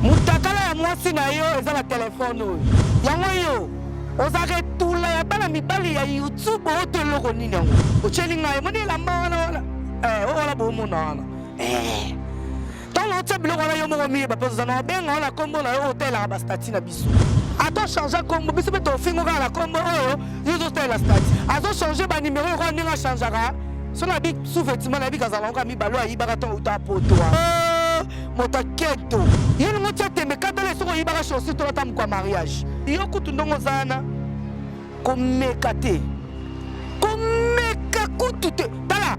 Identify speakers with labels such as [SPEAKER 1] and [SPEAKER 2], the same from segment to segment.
[SPEAKER 1] mutakala ya mwasi na yo eza na telefone oyo yango yo ozaka etula ya bana mibali ya youtube oyo to eloko nini yango otyeli ngai emoni elamba wana wana eh, oyo wana boomona wana eh. ntango otya biloko wana yo moko miyeba mpe ozana obenga wana nkombo na yo oyo otalelaka bastati na ato change kombo biso mpe tofingo kaka na kombo oyo yo ozotalela stati azo change banimero yokola ndenge achangaka so na bi sous-vêtement na bika azalaka kaka mibalo ayibaka ntango uta apotoa oh, moto aketo ye ningo tia tembe katala esoko oyibaka chaussure tolata mokwa mariage yo kutu ndongo ozana komeka te komeka kutu te tala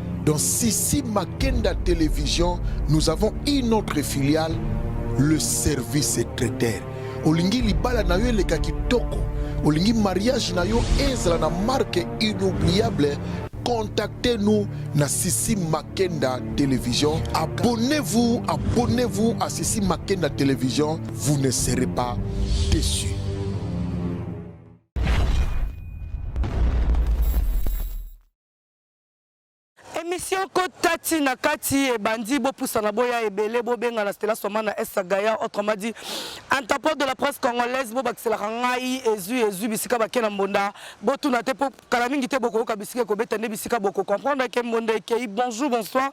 [SPEAKER 2] Dans Sissi Makenda Télévision, nous avons une autre filiale, le service secrétaire. Olingi libala na yo eleka kitoko, olingi mariage na yo ezala na marque inoubliable, contactez-nous na Sissi Makenda Télévision. Abonnez-vous, abonnez-vous à Sissi Makenda Télévision, vous ne serez pas déçus.
[SPEAKER 1] emission kota ti na kati ebandi bopusana boya ebele bobengana stela soma na esa gaya autrement dit interpol de la presse congolaise bobakiselaka ngai ezwi ezwi bisika bake na mbonda botuna te mpo kala mingi te bokoyoka bisika ekobeta nde bisika bokocomprendre eke mbonda ekei bonjour bonsoir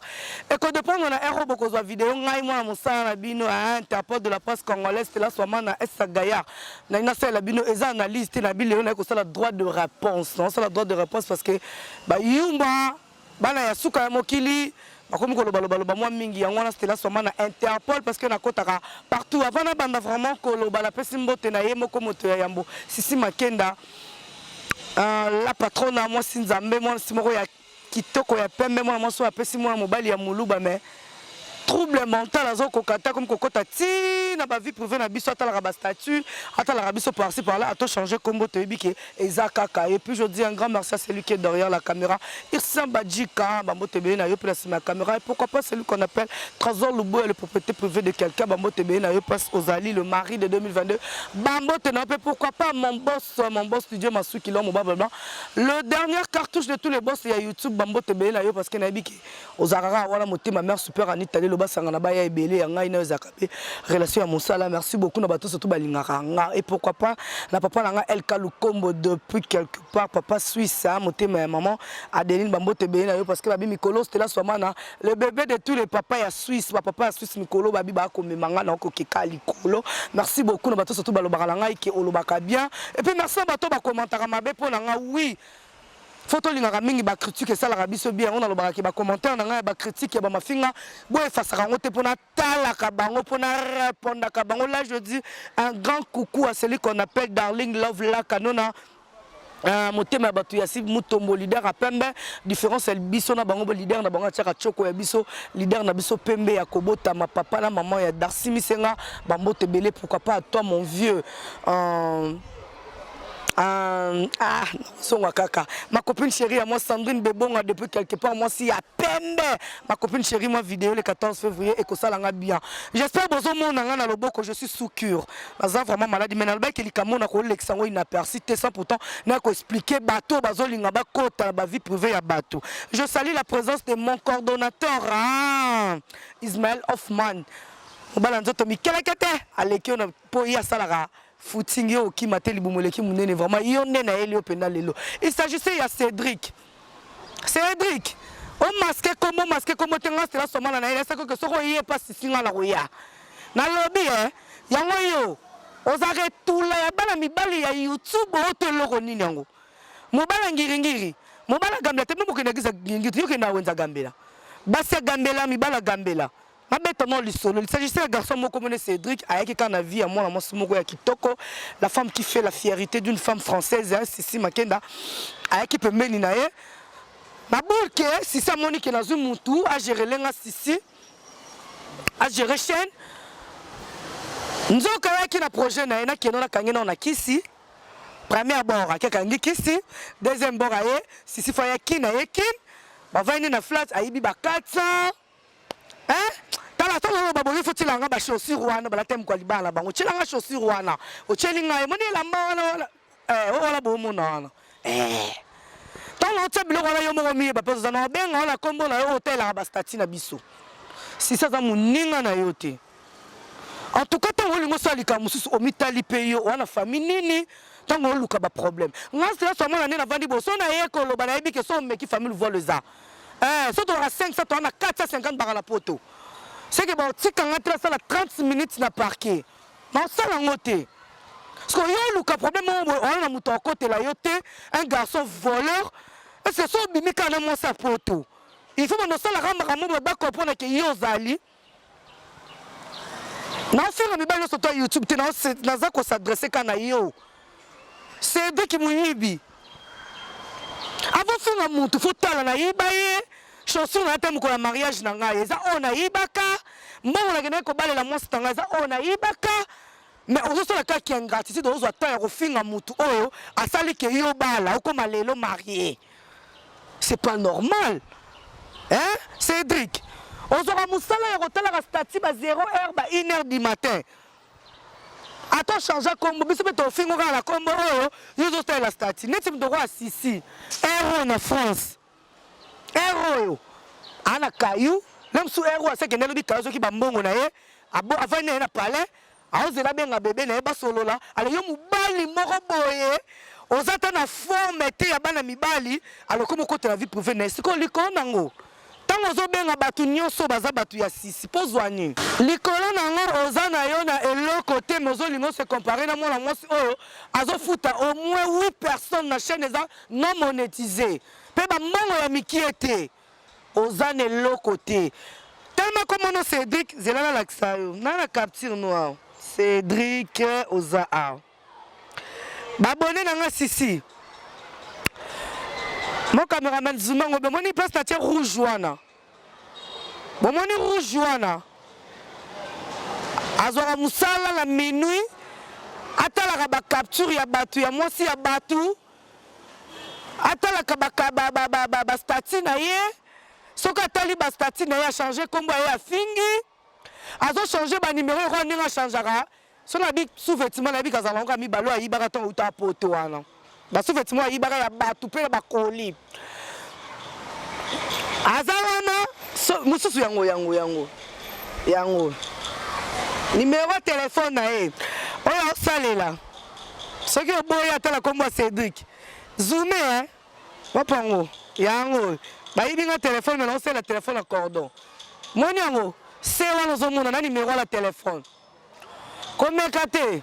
[SPEAKER 1] ekodependre na ero bokozwa video ngai mwana mosala na bino ya interpol de la presse congolaise stela soma na esa gaya nai nasalela bino eza analyse te na bilelo naye kosala droit de réponse naosala droit de réponse parce que Bayumba bana ya suka ya mokili bakomi koloba loba loba mwa mingi yango wana Stella Swama na Interpol parce que nakotaka partout avant na banda vraiment koloba na pesi mbote na ye moko moto ya yambo Sisi Makenda euh, la patrona mwasi Nzambe mwasi moko ya kitoko ya pembe mwana mwasi oyo apesi mwana mobali ya muluba mais trouble mental azo koka ata comme kokota ti na ba vie privée na biso atalaka ba statut atalaka biso par ci par là ato changer kombo toyebi ke eza kaka et puis je dis un grand merci à celui qui est derrière la caméra Irsan Badjika ba mbote beye na yo place ma caméra et pourquoi pas celui qu'on appelle Trésor Luboya le propriété privée de quelqu'un ba mbote beye na yo place Ozali le mari de 2022 ba mbote na pe pourquoi pas mon boss mon boss Dieu Masuki l'homme au blanc le dernier cartouche de tous les boss ya YouTube ba mbote beye na yo parce que na yebi ke Mike ozalaka kaka wana motema mère super Anita lelo basangana baya ebele ya ngai nayo ezalaka mpe relation ya mosala merci beaucoup na bato surtout balingaka nga et pourquoi pas na papa na nga Elka Lukombo depuis quelque part papa Suisse hein, motema ya maman Adeline bambote ebele na yo parce que babi mikolo Stella Swamana le bébé de tous les papas ya Suisse ba papa ya Suisse mikolo babi bakomema nga na okokeka likolo merci beaucoup na bato surtout balobaka na ngai ke olobaka bien et puis merci na bato bakomantaka mabe mpo na nga oui faut tolingaka mingi ba critique esalaka biso bien yango nalobaka ke ba commentaire na ngai ya ba critique ya ba mafinga boye efasaka yango te mpo natalaka bango mpo narepondaka bango là je dis un grand coucou à celui qu'on appelle darling love lakanona Uh, motema ya bato ya si mutombo leader ya pembe différence ya biso na bango leader na bango atiaka choko ya biso leader na biso pembe ya kobotama papa na maman ya darsi misenga bambote ebele pourquoi pas toi mon vieux uh, Euh, ah, songa kaka. Ma copine chérie à moi, Sandrine Bobonga, depuis quelque part, moi, si à peine. Ma copine chérie, moi, vidéo le 14 février, et que ça l'a bien. J'espère, bozo, mon, nanga, na loboko, je suis sous cure. Baza vraiment malade, mais nalba, qu'il y a mon, nako, l'exango, inaperçu, t'es sans pourtant, nako, expliquer, bateau, bazo, linga, ba, kota, ba, vie privée, à bateau. Je salue la présence de mon coordonnateur, ah, Ismaël Hoffman. Mobala, nzoto, mikelekete, alekio, na, po, ya, salara. footing yo okima te libumu eleki monene vraiment yo nde nayeli yo mpenza lelo il s'agissait ya cédric cédric omaske kombo omaske kombo te nga stela somana na ye nasekoke soki oye mpa sisi nga na koya nalobi e yango yo oza retula ya bana mibali ya youtube oyo to eloko nini yango mobala ngiringiri mobala gambela te mpe mokende akiza ngiringiri yokenda wenza gambela basi ya gambela mibala gambela nabeta mwa lisolo lisagise ya garçon moko mone cédric ayaki kaka na vie ya mwana mwasi moko ya kitoko la femme qui fait la fierité d'une femme française ya sisi makenda ayaki pembeni na ye naboyi ke sisi amoni ke nazwi mutu agerele nga sisi agere chaine nzoka ayaki na projet na ye nakende nakangi nao na kisi premier bord ake akangi kisi deuxième bord aye sisi fa ya kin aye kin bavandi na flat ayibi ba 400 eh tala ata naloba boye fo tyelanga ba chaussure wana balata mokwa libala na bango tyelanga chaussure wana otyeli ngai moni elamba wana wana eh, oyo wana boomona wana eh. ntango otya biloko wana yo moko miyeba mpe oza na obenga wana nkombo na yo otelaka bastati na biso sisi aza moninga na yo te en tout cas ntango olingi osala likambo mosusu omitali mpe yo wana famille nini ntango oluka baproblème ngai sila swa mwana nde navandi boso na ye koloba nayebi ke so omeki famille voile eza eh so tolaka 500 toa na 450 baka na poto seke baotika ngai te nasala 30 minutes na parquet naosala yango te sikoyo yo oluka problème oyo oyo na moto akotela yo te un garçon voleur ese so obimi kaka na mwasi ya poto il faut banda osalaka makambo bakopo na ke yo ozali naosenga mibali nyonso to youtube te naza kosadresse ka na yo sediki moyibi abosunga motu fo tala nayiba ye chanson na ata mokolo ya mariage na ngai eza oyo nayibaka mbongo nakendaki kobalela mwasi na ngai eza oyo nayibaka mais ozo sala kaka ki ingratitude ozo temps ya kofinga mutu oyo asali ke yo bala okoma lelo marié c'est pas normal hein Cédric ozwaka mosala ya kotalaka statut ba 0 heure ba 1 heure du matin ata change kombo biso mpe tofingo kaka na kombo oyo yo ozosalela statut neti moto okoya sisi ero na france Heure oyo ana kayu na musu heure oyo asakende alobi kayu azoki bambongo na ye avandi na ye na palais aozela abenga bebe na ye basolola alo yo mobali moko boye oza ata na forme te ya bana mibali alokomi okotela vie prive na ye sikoyo likolo nango ntango ozobenga bato nyonso baza bato ya sisi mpo zwa nini likolo na yango oza na yo na eloko te me ozolinga ose compare na mwana mwasi oyo azofuta au moins 8 personnes na chaîne eza Non monetise pe ba mbongo ya mikie te oza na eloko te telema kombo no Cedric zela nalakisa yo na na capture no awa Cedric oza awa babone na nga sisi mo cameraman zuma ngobe omoni place na tie rouge wana bomoni rouge wana azwaka mosala na minuit atalaka bacapture ya bato ya mwasi ya bato atalaka bastati na ye soki atali bastati na ye achange nkombo ya ye afingi azochange banimero lokola ndenge achangaka so nabi sous-vetima nayebi kazala yango ya mibale oyo ayibaka ntango uta poto wana basous-vetima ayibaka ya bato mpe ya bakoli aza wana so, mosusu yango yango yango yango nimero ya telefone na ye oyo aosalela soki oboyi ata na nkombo ya cédrik zume eh? wapango yango bayibi nga telefone me naosalela telefone ya cordon moni yango se wana ozomona na nimero ya telefone Komeka te.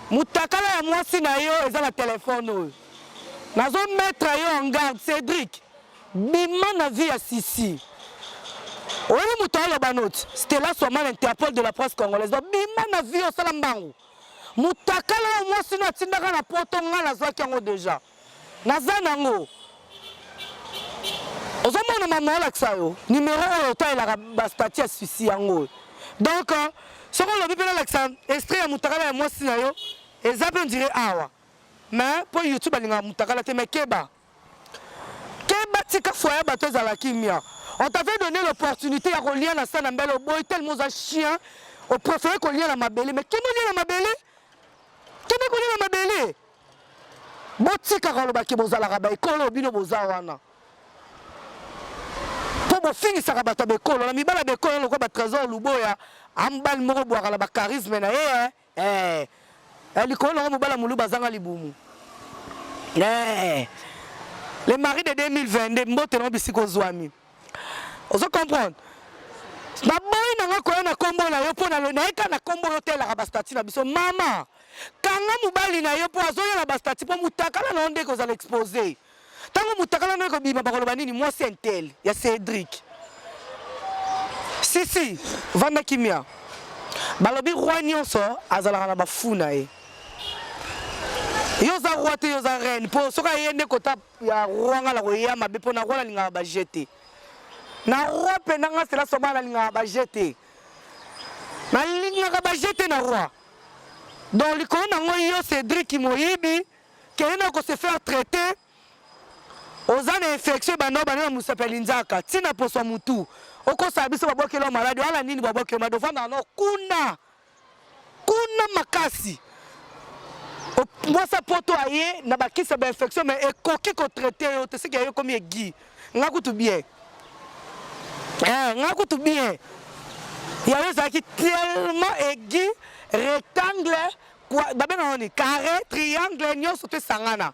[SPEAKER 1] Mutakala ya mwasi na yo eza na telefone oyo. Nazo mettre yo en garde Cedric. Bima na vie ya Sisi. Oyebi moto aloba noti Stella Soman Interpol de la presse congolaise. Donc bima na vie osala mbangu. Mutakala ya mwasi na atindaka na poto ngai nazwaki yango deja. Naza nango. Ozo mona mama na lakisa yo numero oyo otalelaka ba statut ya susi yango oyo. Donc soki olobi pe na lakisa extrait ya mutakala ya mwasi na yo eza pe on dirait awa. Mais po YouTube alingaka mutakala te mais keba. Keba tika foyer ya bato ezala kimia. On t'avait donné l'opportunité ya kolia na sana mbele oboyi tellement oza chien. Au préféré kolia na mabele mais kima olia na mabele? Kima kolia na mabele? botika koloba ke bozalaka baekolo bino boza wana mpo bofingisaka bato ya bekolo na mibala ya bekolo lokola batrésor luboya ambali moko bwaka na bacharisme na ye eh, eh. eh likolo nango mobala moluba azanga libumu eh. le mari de 2022 mbote nango bisika ozwami ozo comprendre naboyi nanga koya na kombo na yo mpo nayeka na kombo yo telaka bastati na biso mama kanga mobali na yo mpo azoya na bastati mpo motakala na yo nde ekozala expose ntango motakala na yo ekobima bakoloba nini mwasi intel ya cédrik sisi vanda kimia balobi roi nyonso azalaka na bafu na ye yo oza roi te yo oza reine mpo soki aye nde kota ya roi nga na koya mabe mpo na roi nalingaka baje te na roi mpenza nga sela soba nalingaka baje te nalingaka baje te na roi donc likolo na ngo yo cédrik moyibi kende na kose faire traite oza na infection ebanda obanda na mosapi ya linzaka ntina poso ya motu okosala biso babwakeli yo maladi wala nini babwakeli yo maladi ofandaka no kuna kuna makasi mwasa poto aye na bakisi ya bainfection mais ekoki kotraite yo te soki aye ekomi egui nga kutu bien eh, nga kutu bien yango ezalaki tellement egui rectangle babengaka nini carré triangle nyonso to esangana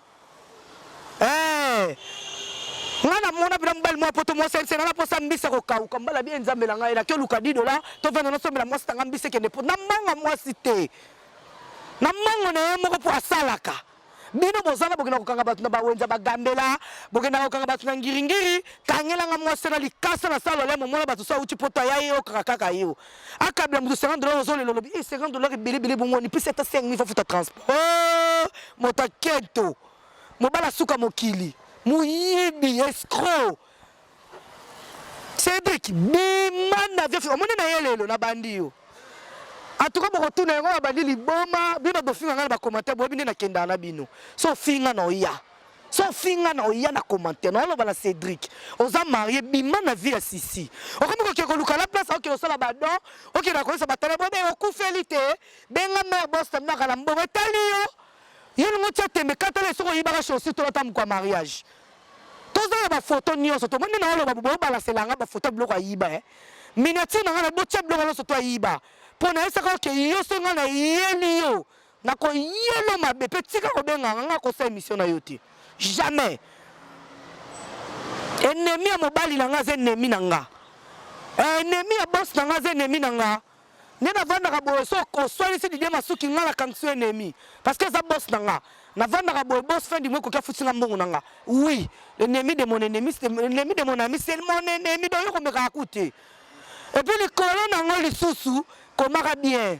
[SPEAKER 1] Eh, nga na mona pena mobali mwa poto mosense nga na posa mbisi ya kokauka mbala bie nzambe na ngai nake oluka didola tovanda nasombela mwasi tanga mbisi ekende po na mbanga mwasi te na mbango na ye moko mpo asalaka bino bozala bokenda kokanga bato na bawenza bagambela bokendaka kokanga bato na ngiringiri kangelanga mwasi na likasa na salo lemo mona bato so auti poto ayaye okaka kaka yo akabla moto 50 dollars ozo lelo lobi 50 dollars ebele ebele bongo ni pesa ata 5000 faut futa transport oh, moto aketo mobala suka mokili moyibi escroc Cedric bima na vie omoni na ye lelo na bandi yo atuka bokotuna yango babandi liboma bino bofinga ngai na bacommentaire boyebi nde nakendaka na bino so ofinga na oya so ofinga na oya na commentaire na oloba na Cédric oza marie bima na vie ya sisi okomi kokende koluka la place okende kosala badon okende koyesa batala bobe okufeli te benga mare boston naka na mbongo etali yo yo lingo tia tembe katala esoko oyibaka chaussure tolata mokwa mariage toza na bafoto nyonso tomoni nde na oloba bobe obalasela nga bafoto ya biloko ayiba eh. miniature na nga na botia biloko nyonso to ayiba mpo nayesaka oke yo so nga na eyeli yo Na ko yelo mabe pe tika ko benga nga nga ko sa emission na yo te. Jamais. Ennemi ya mobali na nga ze ennemi na nga. Eh, ennemi ya boss na nga ze ennemi na nga. nde navandaka boye so oswanisi didie masuki ngai nakangisi yo enemi parce que eza bos na nga navandaka boye bos fin du mois ekoki afuti nga mbongo na nga oui l'ennemi de mon ennemi l'ennemi de mon ami c'est mon ennemi donc yo komekaka ku te epuis likolo na yango lisusu komaka bien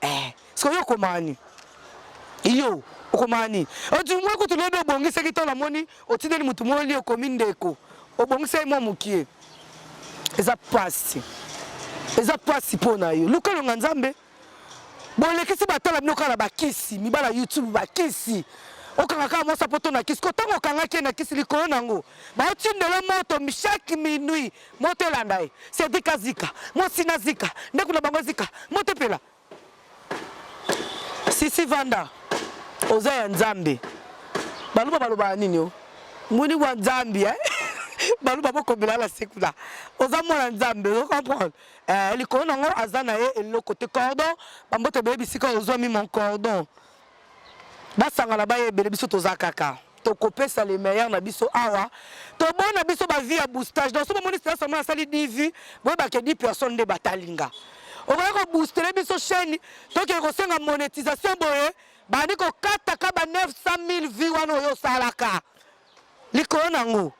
[SPEAKER 1] Eh, sikoyo okomaa nini? Iyo, okomaa nini? Otu mwa kutu lobi obongisaki to namoni otindeli motu mwa olio okomi ndeko. Obongisaki mwa mokie. Eza pasi. Eza pasi mpo na yo. Luka longa Nzambe. Bolekisi batala bino kaka na bakisi, mibala YouTube bakisi. okanga kaka mwa sapoto na kisi ko ntango okangaki ye na kisi likolo na yango baotindela moto chaque minuit moto elanda ye sedika zika mwasi na zika ndako na bango ezika moto epela sisi vanda oza ya nzambe baluba balobaka nini o muni wa nzambe eh? baluba bokobela na sekula oza mwana nzambe ozo comprendre eh, likolo nango aza na ye eloko te cordon bambote boyebi sika ozwami mon cordon basangana baya ebele biso toza kaka tokopesa le meilleur na biso awa tobona biso bavie ya boostage donc so bomoni sila sama asali divi boyebake 10 personne nde batalinga okoki koboostele biso chaîne tokee kosenga monétisation boye bandi kokataka ba 900 000 vie wana oyo osalaka likolo na yango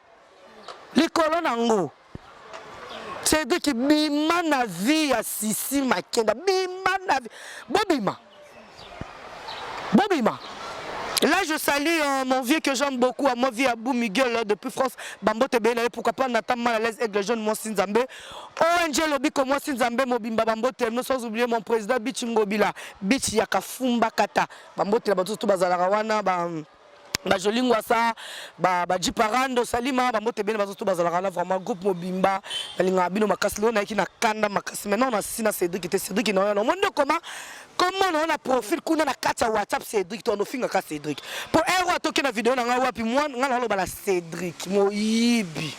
[SPEAKER 1] likolo na yango cedriki bima na vie ya sisi makenda bima na vie bobima bobima Là, je salue euh, mon vieux que j'aime beaucoup, à mon vieux Abou Miguel euh, depuis France. Bambo te bénale, pourquoi pas Nathan mal à l'aise, Aigle Jeune, moi Sinzambe. ONG Lobiko, moi Sinzambe, Mobimba, Bambo te, nous sans oublier mon président Bichingobila, Bichi Yakafumba Kata. Bambo te, la batou, tout bazalarawana, bam. Ba... ba joli ngwasa ba ba jiparando salima ba mbote bene bazoto bazalaka na vraiment groupe mobimba nalingaka bino makasi lelo nayaki na kanda makasi maintenant na sina cédric te cédric na oyana omoni nde koma koma na oyana profil kuna na kati ya whatsapp cédric to anofingaka cédric mpo ero atoki na video na ngai wapi mwa ngai naoloba na cédric moyibi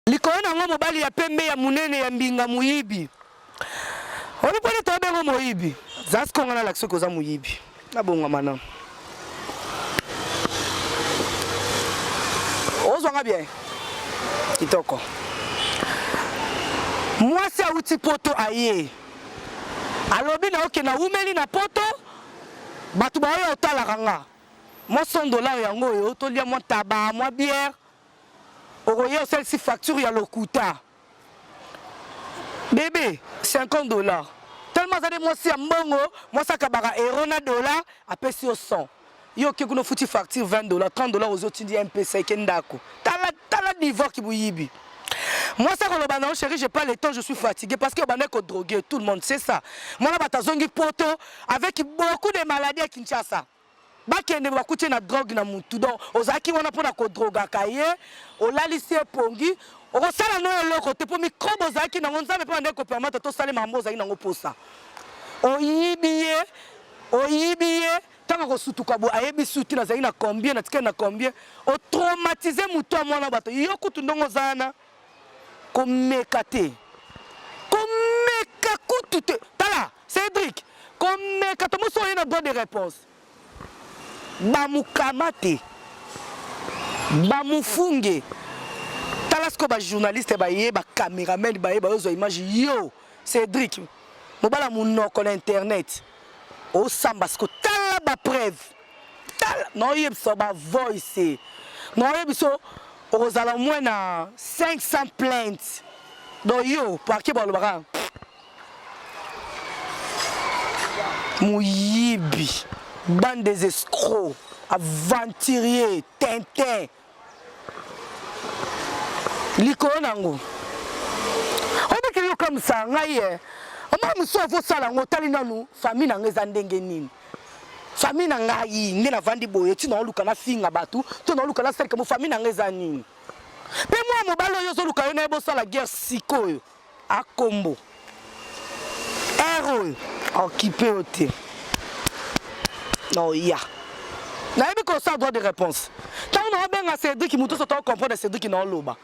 [SPEAKER 1] likolo na yango mobali ya pembe ya monene ya mbinga moyibi oyebi mpona toyebi yango moyibi zasi konga nalakisi soki oza moyibi nabongama na ozwanga bien kitoko mwasi awuti poto aye alobi na oke nawumeli na poto bato baoyo otalaka nga mwa 100 dollar yango oyo tolia mwa taba mwa biere okoya osalisi facture ya lokuta bebe 50 dollars tellement aza nde mwasi ya mbongo mwasi akabaka euro na dollar apesi yo 100 yo oke kuna ofuti facture 20 dollars 30 dollars ozi otindi ya mpesa eke ndako tala tala niveau kiboyibi mwasi akoloba na yo chéri j'ai pas le temps je suis fatigué parce que obandaki kodrogue tout le monde c'est ça mwana bato azongi poto avec beaucoup de maladie ya kinshasa bakende bakuti na drogue na mutu donc ozalaki wana mpo na kodrogaka ye olalisi ye pongi okosala no eloko te mpo mikrobe ozalaki nango nzambe mpe bandeki kopermata tosalema yango ozalaki nango mposa oyibi ye oyibi ye ntango akosutuka boye ayebi suti nazalaki na combien natikali na combien otraumatize motu ya mwana bato yo kutu ndongo oza wana Komeka te. Komeka kutu te. Tala, Cedric, komeka to moso oye na droit de réponse. Ba mukamate. Ba mufunge. Tala siko ba journaliste ba ye, ba cameraman ba ye ba ozo image yo Cedric. Mobala munoko na internet. Osamba siko tala ba preuve. tala naoyebisa ba voice naoyebisa okozala omwe na 500 plainte do yo parke balobaka moyibi bande des escrocs aventurier tintin likolo na yango obikeli yokamisa ngai ye omoi mosusu avosala yango otali nanu famille na ngai eza ndenge nini famille na ngai nde navandi boye ti naoluka nafinga bato to naoluka nasalika mo famille na ngai eza nini mpe mwana mobali oyo ozoluka yo na ye bosala guerre sikoyo A kombo. Heure oyo okipe yo te. Naoya. Nayebi kosala droit de réponse. Ntango naobenga Cédric moto nyonso to comprendre Cédric naoloba.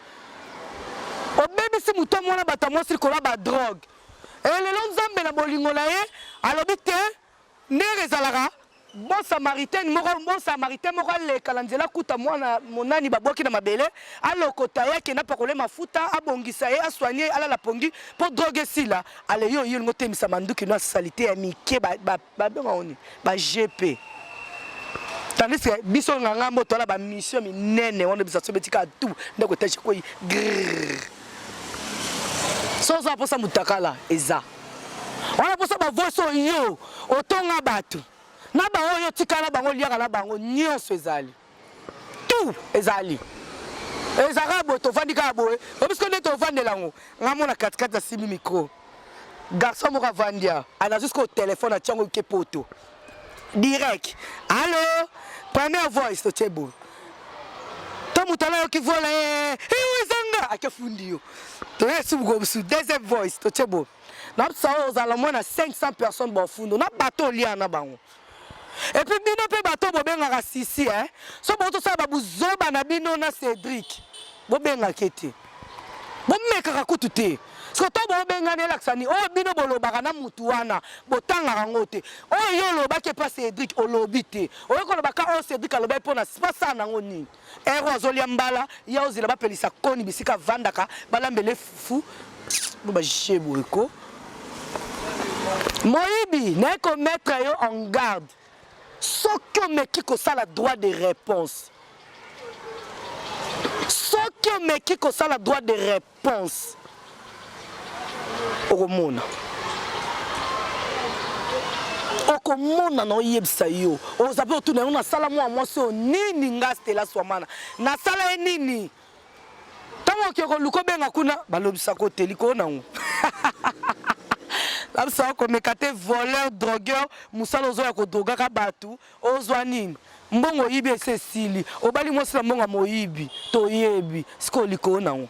[SPEAKER 1] Obebisi moto mwana bato ya mwasi likolo ya badrogue. Elelo Nzambe na bolingo na ye alobi te Ndenge ezalaka, bon samaritaine moko, bon samaritain moko aleka na nzela akuta mwana monani babwaki na mabele, alokota ye, akende apakole mafuta, abongisa ye, asoigne ye, alala pongi mpo drogue esila. Allez, yo oye olingi otemisa manduki na salite ya mike, ba, ba, babenga yango nini? Ba GP. Tandis que biso nganga mboto ala ba mission minene wana bisa so beti ka tu ndako etage ekwei grrr. So oza mposa mutakala eza. wana posa bavoice oyo yo otonga bato na bango oyo otikala na bango oliaka na bango nyonso ezali tout ezali ezalaka boye tovandi kaka boye obisko nde tovandela yango ngai mona katikati asimbi mikro garçon moko avandi a nazwi sikoyo telefone atyango ke poto direct allo première voice totie boye to moto wana ayoki vola ye ezanga ake fundi yo toye subuko mosusu deuxième voice totie boye na biso oyo ozala mwana 500 personnes baofundo na bato olia na bango epuis bino mpe bato bobengaka sisi eh? so botosala babuzoba na bino na cédrik bobengaka ete bomekaka kutu te soto bobengani elakisa nini oyo bino bolobaka na mutu wana botangaka yango te oyo yo olobaki epa cedrik olobi te oyo koloba ka oyo cedrik alobaki mpona basala nango nini ero azolia mbala ya ozela bapelisa koni bisika avandaka balambele fufu bajeboyeko moyibi naye kometre yo en garde soki omeki kosala droit de réponse soki omeki kosala droit de réponse okomona okomona na oyebisa yo oza mpe otuna yango nasala mwa mwasi oyo nini nga stela swamana nasala ye nini Tango oke ko luko benga kuna ba lobisa ko te likolo nango. Labisa ko meka te voleur drogueur musala ozo ya ko droga ka batu ozwa nini? Mbongo yibi ese sili obali mwasi na mbongo moyibi to yebi siko likolo nango.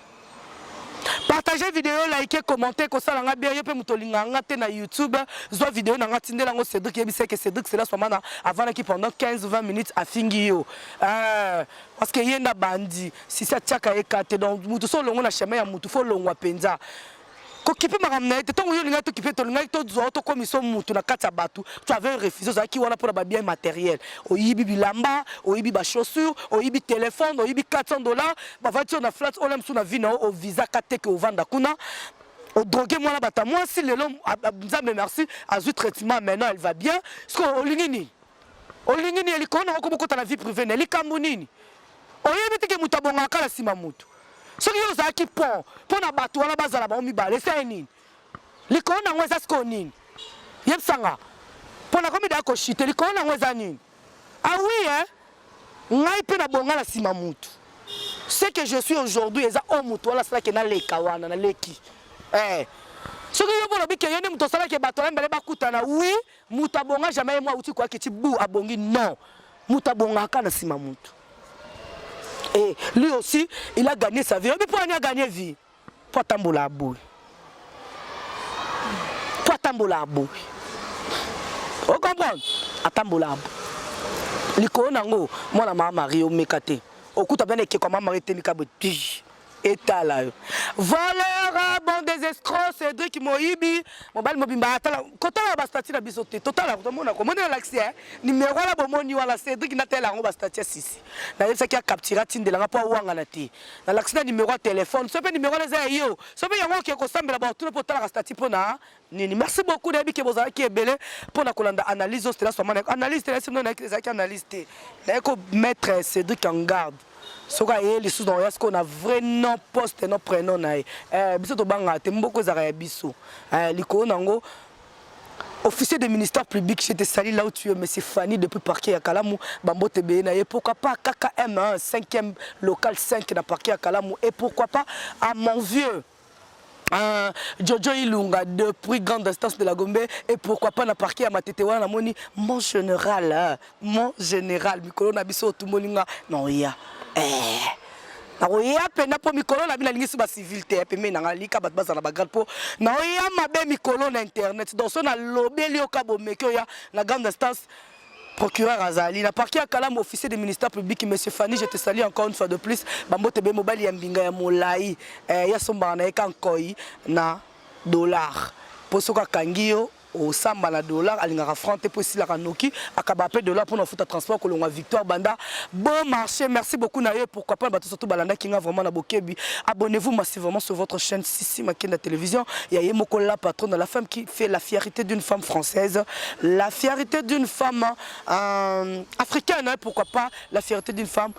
[SPEAKER 1] Partagez vidéo, likez, commentez, kosala nga bien, yo pe moto linga nga te na YouTube, zwa vidéo na nga tindela ngo Cédric yebisa que Cédric c'est la soir mana avana ki pendant 15 20 minutes afingi yo. Euh, parce que ye nda bandi sisi atiaka ye ka te donc moto so olongo na chemin ya moto fo olongwa mpenza kokipe makambo na ye te ntango yo olingaki tokipe tolingaki tozwa yo tokomiso moto na kati ya bato tu avais refuse ozalaki wana mpo na babien matériel oyibi bilamba oyibi bachaussure oyibi telefone oyibi 400 dollar bavandi yo na flat ola mosusu na vi na yo ovisaka te ke ovanda kuna odroge mwana bata mwasi lelo nzambe merci azwi traitement maintenant elle va bien sikoyo olingi nini Olingi nini likolo na okomi kota na vie privée na likambo nini? Oyebi te ke moto abongaka kala nsima moto. Soki yo ozalaki pont mpo na bato wana bazala bango mibale, esali nini? Likolo na yango eza sikoyo nini? Yebisa nga. Mpo nakomi daya koshite, likolo na yango eza nini? Ah oui, eh? Ngai mpe nabonga na nsima moto. Ce que je suis aujourd'hui eza o moto wana asalaki naleka wana naleki. Eh. Soki yo mpo olobi ke yo nde moto osalaki bato wana mibale bakutana, oui, Mutu abonga jamais ye mwa uti kwa kiti bu abongi non. Mutu abonga ka na sima mutu. Et lui aussi, il a gagné sa vie. Mais pourquoi il a gagné vie Pour tambola abou. Pour tambola abou. Vous comprenez Atambola abou. Likolo nango, mwana mama Marie omeka te. Okuta bana ekeko mama Marie te mikabe. etala yo voleur bon des escrocs Cédric Moyibi mobali mobimba atala kotala ba statut na biso te totala kotomona ko monela laxi hein numéro la bomoni wala Cédric na tela ngo ba statut sisi na yesa ki a capturer tindela nga po awanga na te na laxi na numéro ya téléphone sope numéro na za yo sope yango ke ko sambela ba tuna po tala ka statut pona nini merci beaucoup nayebi ke bozalaki ebele mpo na kolanda analyse oyo stela swamana analyse tela sino nayaki ezalaki analyse te naye ko mettre cédric en garde soki ayeye lisusu na oya sikoyo na vrai non poste no prénom na ye eh, biso tobangaka te mboko ezalaka ya biso eh, likolo na yango officier de ministère public je te salue là où tu es monsieur Fanny depuis parquet ya Kalamu bambote beye na ye pourquoi pas KKM 5e local 5 na parquet ya Kalamu et pourquoi pas à mon vieux Ah, Jojo Ilunga de prix grande instance de la Gombe et pourquoi pas na parquet ya Matete wana namoni mon général hein, mon général mikolo na biso otumboli nga na oya eh nakoya mpenza mpo mikolo na bino alingisi bacivil te pembeni na ngai lika bato bazala bagrade mpo naoya mabe mikolo na internet donc so nalobeli oka bomeki oya na grande instance procureur azali na parquet ya kalamu officier de ministère public monsieur Fanny je te salue encore une fois de plus bambote be mobali ya mbinga ya molai eh, ya sombaka na ye ka nkoi na dollar mpo soki akangi yo osamba na dollar alingaka franc te mpo esilaka noki akaba mpe dollar mpona ofuta transport kolongwa victoire banda bon marché merci beaucoup na yo pourquoi pas bato surtout balandaki nga vraiment na bokebi abonnez-vous massivement sur votre chaîne Sissi Makenda Télévision, il y a Yemoko la patronne de la femme qui fait la fierté d'une femme française, la fierté d'une femme euh, africaine, hein, pourquoi pas la fierté d'une femme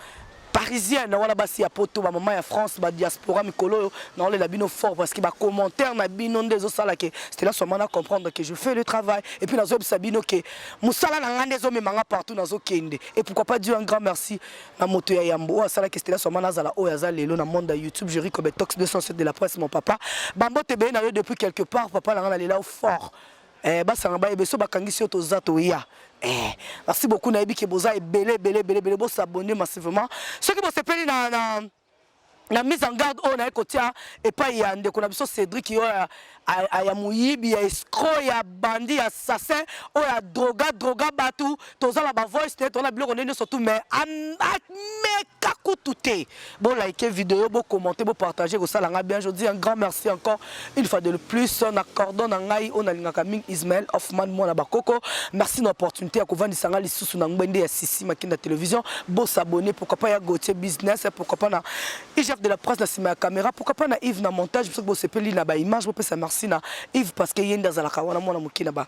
[SPEAKER 1] parisienne wana basi ya poto bamama ya france badiaspora mikolo oyo naolela bino fort parce que bacommentaire na bino nde ezosala ke stela swama na comprendre que je fais le travail et puis nazoyebisa bino ke mosala na ngai nde ezomema ngai partout nazokende et pourquoi pas dire un grand merci na moto ya yambo oyo asalaki stela somana azala oyo aza lelo na monde ya youtube jeri kobe tox 207 de la presse mon papa bambo tebeye na yo depuis quelque part papa na ngai na lela fort eh, basanga bayebe so bakangisi yo toza toya eh, merci beaucoup nayebi ke boza ebele ebele ebele ebele bosabone massivement soki bosepeli na, na na mise en garde oyo naye kotia epai ya ndeko na biso Cedric oyo ya, ya moyibi ya escro ya bandi ya assassin oyo ya droga droga bato toza na bavoice te toza na biloko nde nyonso tu mais ameka kutu te bolaike video bokommente bopartage ekosala ngai bien je dis un grand merci encore Une fois de plus, na cordon na ngai on alingaka ming Ismaël Hoffman mwana bakoko. Merci na opportunité ya kovandisa ngai lisusu na ngbende ya Sisi Makinda Télévision. Bo s'abonner pourquoi pas ya Gauthier Business, pourquoi pas na IGF de la presse na sima ya caméra, pourquoi pas na Yves na montage, parce que bo sepeli na ba images, bo pesa merci na Yves parce que yende azalaka wana mwana mukie na ba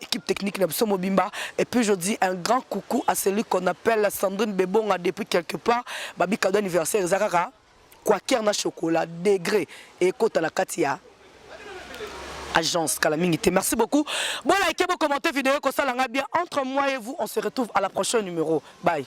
[SPEAKER 1] équipe technique na biso mobimba et puis je dis un grand coucou à celui qu'on appelle Sandrine Bebonga depuis quelque part babi cadeau anniversaire eza kaka quaker na chocolat degré ekota na kati ya agence kala mingi te merci beaucoup bo like bo commenter vidéo ekosala nga bien entre moi et vous on se retrouve à la prochaine numéro bye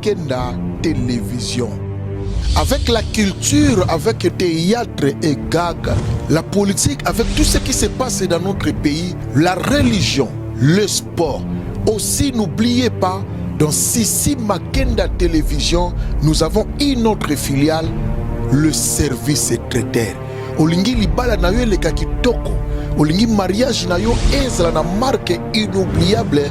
[SPEAKER 2] Kenda Television. Avec la culture, avec le théâtre et gag, la politique, avec tout ce qui se passe dans notre pays, la religion, le sport. Aussi, n'oubliez pas, dans Sissi Makenda Télévision, nous avons une autre filiale, le service secrétaire. Olingi libala na yo eleka kitoko, olingi mariage na yo ezala na marque inoubliable